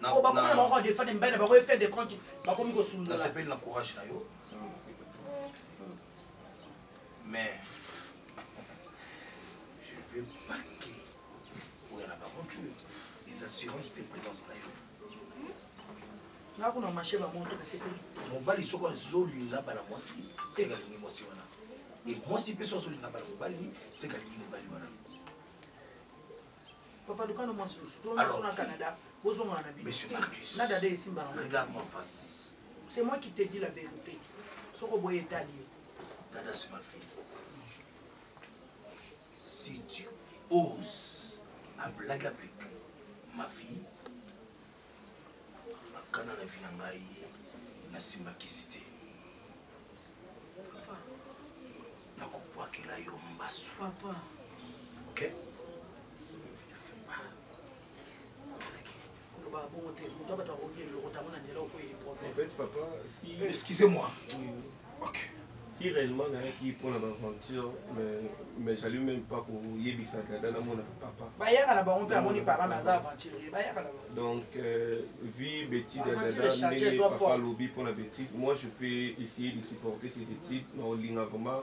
bakomona bango badefane mibali na bango efin de compte bakomi kosundola nasepeli na courage na yo mais je veux pas que oya na baventure les assurances de présence na yo nakuna marché bamoto nasepeli mobali soko azolinga bana mwasi sekalingi mwasi wana e mwasi mpe so azolinga bana mobali sekalingi mobali wana Papa Lukano mwasi mosusu tolona biso na Canada bozongana na biso na dada esimba nango regarde-moi face c'est moi qui te dis la vérité soko boye etali yo dada c'est ma fille si tu oses à blague avec ma fille nakana na vi na ngai nasimba kisi te nakobwakela yo mbasu papa ok Excusez-moi. si réellement nayaki mpo na baventure mais jali même pas koyebisa dada namona papa bayaka na bango mpe amoni papa me aza aventurier bayaka na bango donc euh, vie betide ya dada ndenge papa alobi mpo na betide moi je peux essayer de supporter cette étude na olinga vraiment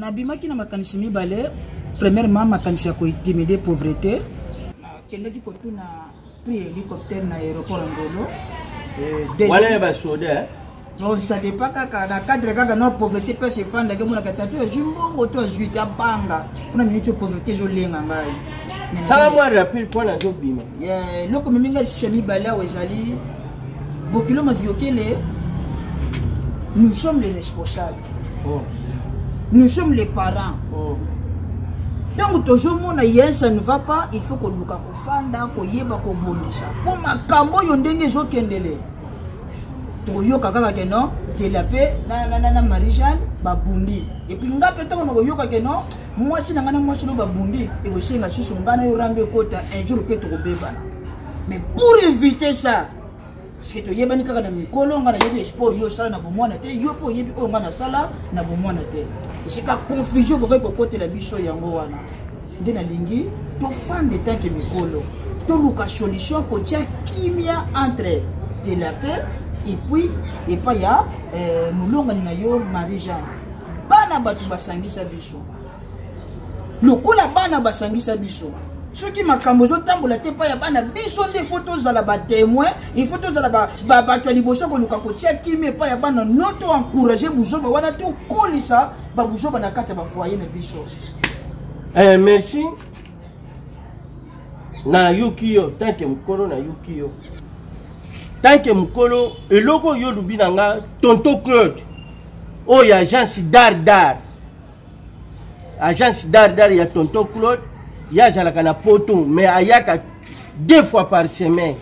nabimaki na makanisi mibale premièrement makanisi ya kointimide pauvreté nakendaki kotuna prix ya hélicoptère na aéroport ya ngolo euh, wana ya basoda eh? non ça dépend kaka na cadre kaka na pauvreté mpe sefandaki omonaka tatu azwi mbongo to azwi te abanga mpona miniti yo pauvreté ezolenga ngai sala mwa rapide mpo nazobima eloko mimi ngai lisusu ya mibale awa ezali bokilo maviokele nous sommes les responsables oh. nous sommes les parents oh. ntango tozomona ye ça ne va pas il faut koluka kofanda koyeba kobongisa mpo makambo oyo ndenge ezokendele tokoyoka kaka ke non tela mpe na marie jeanne babundi epuis nga mpe ntango nakoyoka ke non mwasi na ngai na mwasi no babundi ekosenga susu ngai na yo rambi ekota un jour mpe tokobebana mais pour éviter ça parceke toyebani kaka na mikolo ngai nayebi esport yo osala na bomwana te yo mpe oyebi oyo ngai nasala na bomwana te esika confusion bokoki kokotela biso yango wana nde nalingi tofanda etanke mikolo toluka solution kotia kimia entre de la paix epuis epai ya eh, molongani na yo marie jeanne bana bato basangisa biso lokola bana basangisa biso soki makambo ezotambola te epai ya bana biso nde ifo tozala batemoin ifo tozala bato ya liboso koluka kotia kimi epai ya bana no to encourage buzoba wana tokolisa babuzoba na kati ya bafoye na biso eh, merci nayoki yo tanke mokolo nayoki yo tanke mokolo eloko yo olubi na nga tonto claude oyo agence dardar agence dar dar ya tonton claude ye azalaka na poto mais ayaka deux fois par semaine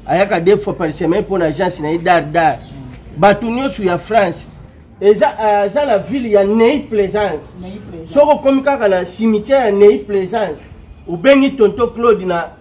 ayaka deux fois par semaine mpo na agence na ye dar dar bato nyonso ya france eza aza na ville ya nei plaisance soki okomi kaka na cimetière ya nei plaisance obengi tonton claude na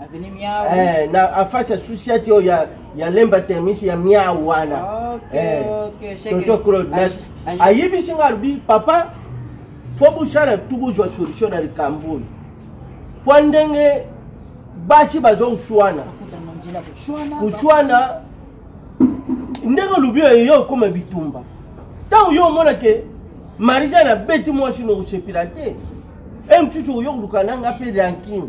Avenue Miao. Eh, na en face ya société oyo ya ya Lemba Termis ya Miao wana. Okay, eh, okay. Cheke. Toto Claude Nash. Ayebisi nga alobi papa fo bosala tu bozwa solution na likambo oyo. Mpo ndenge basi bazoswana koswana ndenge olobi oyo yo okoma bitumba ntango yo omona ke marisa na beti mwasi na kosepela te e mosusu oyo koluka nanga mpe rankine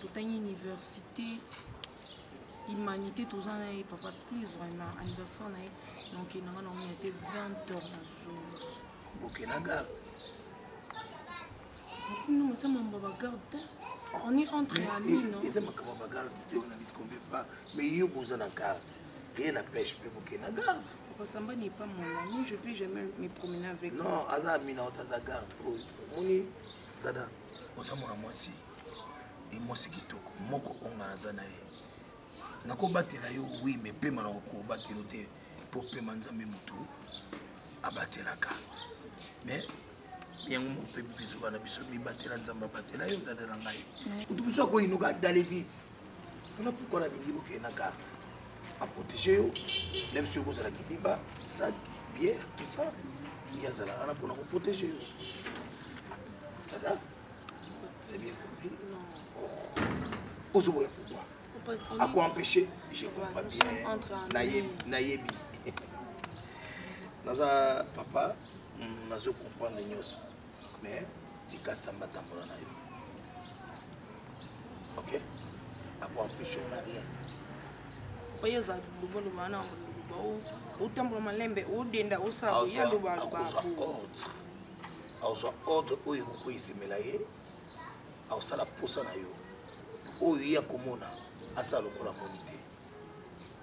totangi université humanité toza na ye papa please vraiment anniversaire na ye naokende nanga na omia te 20 heures na zolo bokena garde bakuna moza mambo ya bagarde te on est entre amis non eza makambo ya bagarde te on abisi qu'on veut pas mais yo boza na garde rien na pêche mpe bokena garde Samba n'est pas mon ami, je peux jamais me promener avec lui. Non, Aza Amina, Aza garde. Moni, Dada, Oza mon ami aussi. emosi kitoko moko onga naza na ye nakobatela yo wi me pema na kokobatelo te mpo pema nzambe motu abatelaka me yango moko mpe biso bana biso mibatela nzambe abatela yo dada na ngai motu biso akoyinuka dale vite mpona pourkui nalingi bokee na garde aprotege yo meme soki kozala kidiba sak biere tout ça ye azalaka na mpona koprotege yo dada C'est bien compris Non. Oh. Ozoboya pourquoi À quoi empêcher Je comprends bien. Nayebi, nayebi. Naza papa, hmm, nazo comprendre nyonso. Mais tika samba tambola na yo. OK À quoi empêcher on n'a rien. Oye za lubo lubo na lubo. Otambola malembe, odenda osala ya lubo lubo. akozwa ordre oyo ekokweyisemela ye akosala mposa na yo oyo ye akomona asala lokola moni te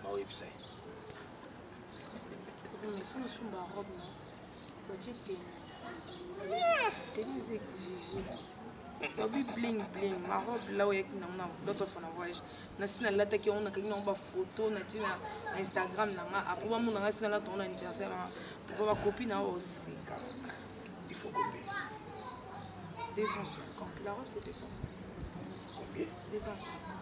maoyebisa ye lobi bling bling marobe la oyaki nango na loto fana voyage nasi nalataki yango nakangi nango bafoto nati na instagram na nga apres bamona nga si nalata yango na anniversaire na nga bakopi na yango osika il faut kopi 250 la robe c'est 250 combien 250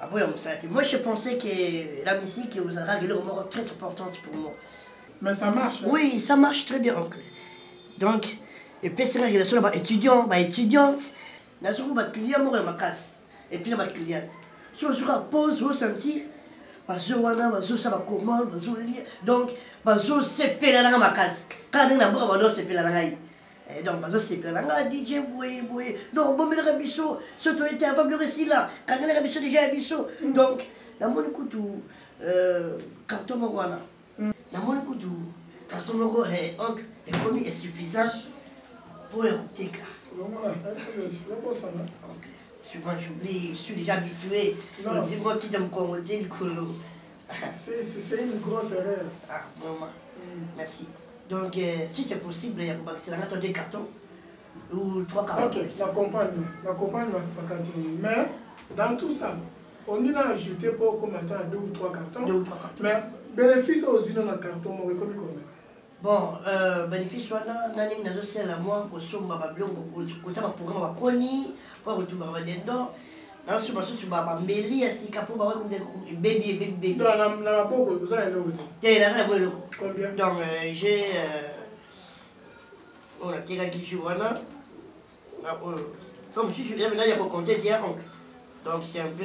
aboya mosala te moi je pensais que la musique ozalaka eloko moko très importante pour moi mais ça marche hein? oui ça marche très bien oncle donc epesi nga relation na baétudiant baétudiante nazoko baclient moko ya makasi epuis na bacliente soki osuki apose osentir bazo wana bazosala bacommande bazolia donc bazosepela nanga makasi kaka ndenge na mboka bando osepela na ngai Eh, donc bazosepela na nga dj boye boye donc obomelaka biso so toye te avable resila kangelaka biso deja ya biso mm. donc namoni kutu euh, carton moko wana mm. namoni kutu carton moko eh, ok ekomi insuffisant mpo ya koteka souvent j'oublie je suis déjà habitué odimbo kita mokongo tie likolo c'est une grosse erreur ah vraiment mm. merci donc euh, si c'est possible ya kobakisela nga to deux cartons ou trois cartons ok na comprendre na comprendre makanisi mais dans tout ça olingi na ajouté mpo okoma ata deux ou trois cartons mais bénéfice ozwi no na carton moko ekomi combien bon euh, banifice wana na ndenge nazosala mwa kosomba babilongo kotia baprogramme bakoni mpo ya kotumbaka badendon nayoso basusu bambeli ya sika mpo baebebi ebebibebina maboko oza na eloko te te naza yango eloko donc euh, je euh, oyo natekaki jour wana na oyo to mosusu ya kokonte te ya oncle donc c'est un peu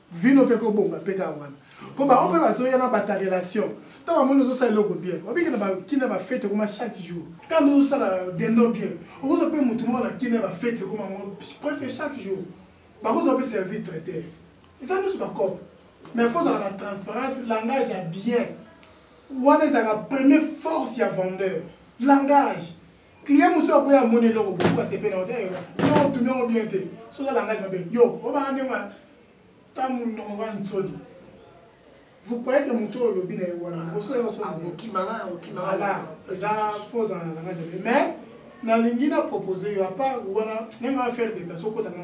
vino mpe kobonga mpe kaka wana mpo bango mpe bazoya na bata relation ntango bamoni ozosala eloko bien obiki na bakina bafete ekoma chaque jour ntango ozosala dendo bien okozwa mpe motu moko na kina bafete ekoma ngo presque chaque jour bakozwa mpe service traiter eza nyonso bakope mais fo ozala na transparence langage ya bien wana ezalaka premier force ya vendeur langage client mosusu akoya amoni eloko boku asepela ote eh, yo otuni yango bien te soki alangage mabe yo obanga ndenge wana ta monoko ba nsoni vous croyez que moto oyo olobi na ye wana liboso yaosokimala eza faux en langage mabe mais nalingi na propose yo apart wana ndenge affaire de place okota na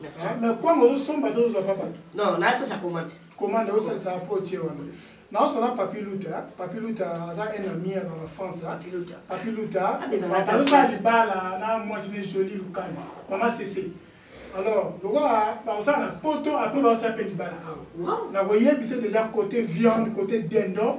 Merci. Ah, mais kwango ozosomba te ozozwa pa bato non nasosa commande commande osalisa po otie wana naosala papi luta papi luta aza un ami aza na france papi luta azosala libala na mwasi ne joli lukani mama sese alors lokola bakosala na poto apres bakosala mpe libala awa nakoyebisa deja côté viande côté dendon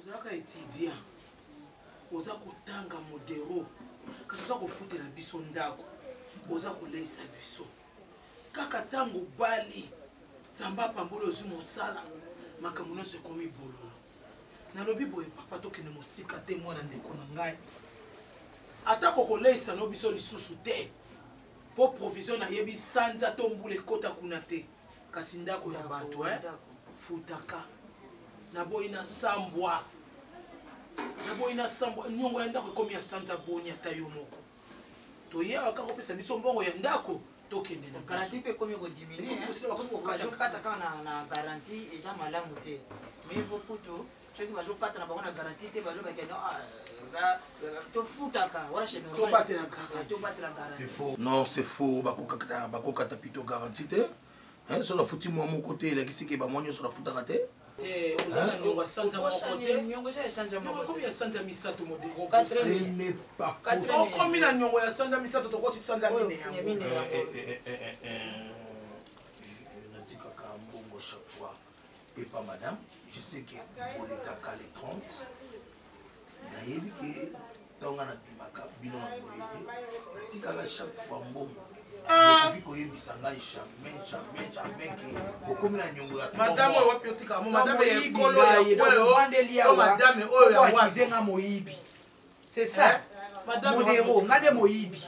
ozalaka étudiant oza kotanga modero kasi oza kofutela biso ndako oza koleisa biso kaka ntango obali nzambe apamboli ozwi mosala makambo nyonso ekomi bololo nalobi boye papa tokende mosika te mwana ndeko na ngai atako koleisa no biso lisusu te mpo provision nayebi sanza to mbula ekota kuna te kasi ndako ya bato eh? futaka naboyi nasambwa naboyi nasambwa niongo ya ndako ekomi ya sanza boni ata yo moko toyaka kaka kopesa biso mbongo ya ndako tokende na garanti mpe ekomi kodiminuebakoki kokata kaka na garanti eza malamu te mais faut kutu soki bazokata na bango na garanti te bazobake no ah, tofutaka wana non c'est faux bakokata pito garanti te so nafuti mwa moko te elakisi ke bamwa nyonso nafutaka te Eh, okomi na nyongo ya sanza misato tokoti sanza mineyango Pepa madame, je sais que olekaka le 30. Nayebi que ntango nga nabimaka bino na boye te natikala chaque fois mbongo ah! okoki koyebisa ngai jamais jamais jamais ke bokomi na nyongo ya madame oyo wapi otikaka mo madame eyikolo ya kweo madame oyo ya wapi moyibi c'est ça eh, modero nga nde moyibi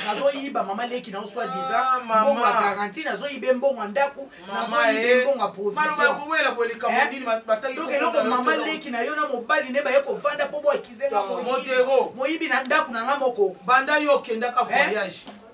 nazoyiba mama leki na oswa disa ah, mbongo ya garanti nazoyiba mbongo ya ndako nazoyiba eh. mbongo ya provisiondoke eh? eloko mama leki na yo na mobali ne baye kovanda mpo boakizenga moyibi na ndako na nga moko banda yo okendaka voyage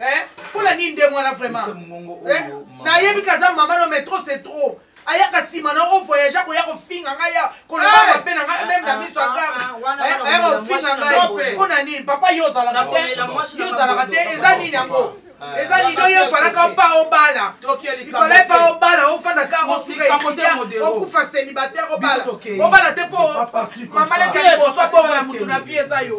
eh, mpo na nini ndenge wana vraiment eh, nayebi kaza mama no mais trop c'est trop ayaka nsima na o voyage akoya kofinga ngai ya koloba eh! mabe na ngai ah, meme na ah, miso ya ngai ah, ayaka kofinga ngai mpo na nini papa yo ozalaka te yo ozalaka te eza nini yango Eh, eza lido yo efalaka opa obala ifala epa obala ofanda ka osuka okufa célibataire obala obala te mpo mama leka liboso abongola motu na vie eza yo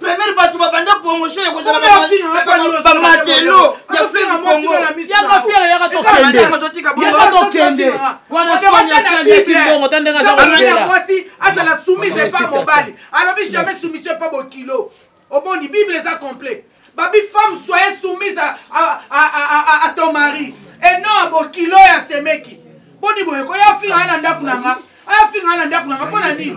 première bato babanda promotion ya kozala bamatelo ya fleve congo yanga fiere yaka tokendeazotika bongotokende wana soni asali ya kimbongo ta ndenge azakoela mwasi azala soumise epa mobali alobi jamais soumission epa bokilo omoni bible eza complet babi femme soye soumise à, à, à, à, à, à ton mari et non à bokilo ya semeki boni boye koya finga na ndako na nga aya finga na ndako na nga mpo na nini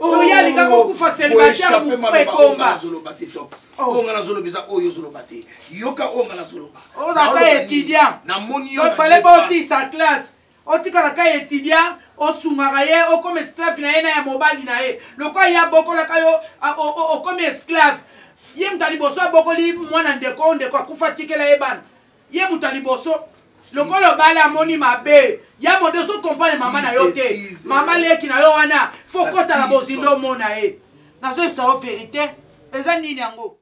oyo alingaka okufa célibataire motu ekomba oyo nga nazoloba eza oyo ozoloba te yoka oyo nga nazoloba ozalaka étudiant namoni yo fallait pas aussi sa classe otikala ka étudiant osungaka ye okoma esclave na ye na ya mobali na ye lokola ye abokolaka yo okomi esclave ye moto ya liboso abokoli mwana ndeko ndeko akufa atikela ye bana ye moto ya liboso lokola obala amoni mabe ya mode ozokompane mama na yo te mama leki na yo wana fo kota na bozindo omona ye nazoyebisa yo verité eza nini yango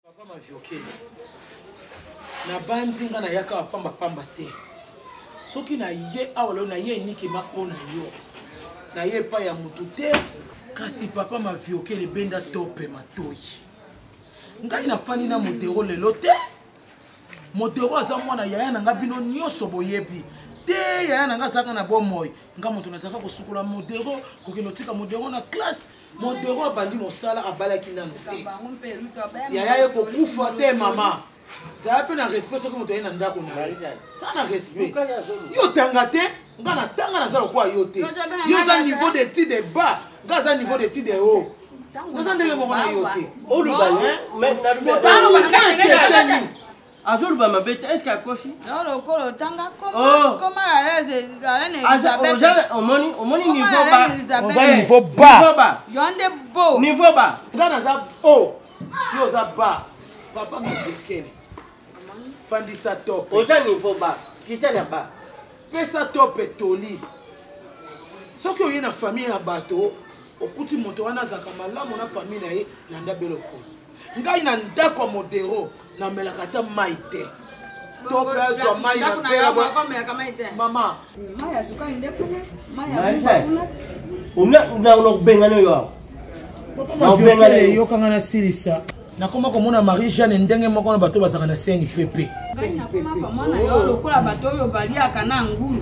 papa mavioke nabanzi nga nayaka pambapamba te soki na ye awa lelo na ye enikema mpo na yo na ye epai ya motu te kasi papa mavioke libenda tope matoyi ngai nafandi na modero lelo te modero aza mwana yaya na ngai bino nyonso boyebi te yaya na ngai azalaka na bomoi ngai moto nazalaka kosukola modero kokende otika modero na classe modero abandi mosala abalaki nano te yaya ye kokufa te mama zala mpe na respect soki moto aye na ndako na yo zala na respect yo otanga te nga natanga naza lokola yo te yo oza niveau de ti de bas nga aza niveau de ti de haut naza ndenge moko na yo te olobamotalobaekeseni azoluba mabe te eske akosi lokola otanga koma omoni niveau ba niveau ba yo nde bo niveau ba nga naza o yo oza ba papa mavekele fandisa tope oza niveau ba kita na ba pesa tope toli soki oye na famille ya bato okuti moto wana azalaka malamu na famille na ye landa belokolo ngai na ndako ya modero namelaka ata mai te to mpe azwa mai na fela mama nakobengana yo awa nakobengana eyokanga nasilisa nakoma komona marie jeanne ndenge moko na bato bazalaka na seni pepe ngai nakoma komona yo lokola bato oyo baliaka na ngulu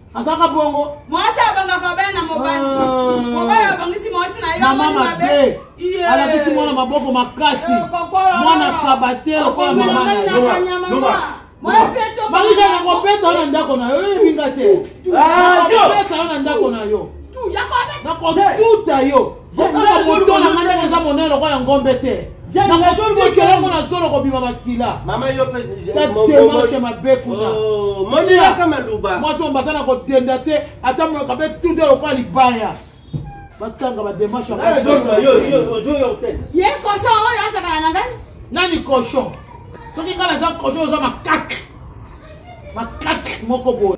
azalaka bongo mwasi abangaka bana na mobali ah. mobali abangisi mwasi na yamama mabe alakisi mwana maboko makasi eh, mwana kaba te lokola mama maisha nakopeta yo na ndako na yo oyebinga te nakopeta yo na ndako na yo nakotuta yo Zokaka moto na nga ndenge eza monene lokola ya ngombe te nakotekela yango na zolo kobima makila tademarche mabe kuna oh, mwasi oyo baza na kodenda te ata moyoka mpe tude lokola libaya batanga bademarche ye koso oyo asakana na ngai nani cochon soki ngai naza cochon oza makake makake moko boye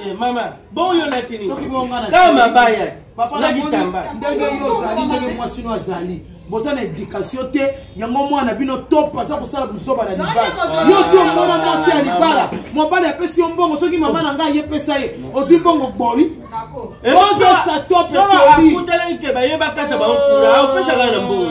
Eh, mama bongo yo olati nini kaka mabaya na kitamba ndenge yo ozali ndenge mwasi no azali boza na éducation te yango mwana bino top aza kosala buzoba na libala yo si omona mwasi ya libala mobali apesi yo mbongo soki mama na ngai ayepesa ye ozwi mbongo boli opesa topeokutelaki te bayebakata baokura opesaka na mbongo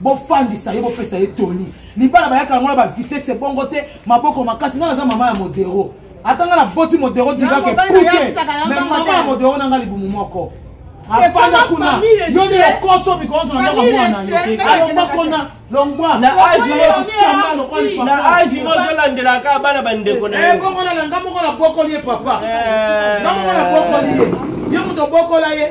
bofandisa ye bopesa ye toli libala bayaka yango na bavitese bongo te maboko makasi ngai naza mama ya modero ata ngai naboti modero digake pute me mama ya modero na ngai libumu moko afanda kuna yo nde okoso mikonso na ndako mwana alongba kuna longwa na age okutama lokola lipapa na age mozolandela kaka bana bandeko na ye bongo na nga moko nabokoli ye papa nga moko nabokoli ye yo moto obokola ye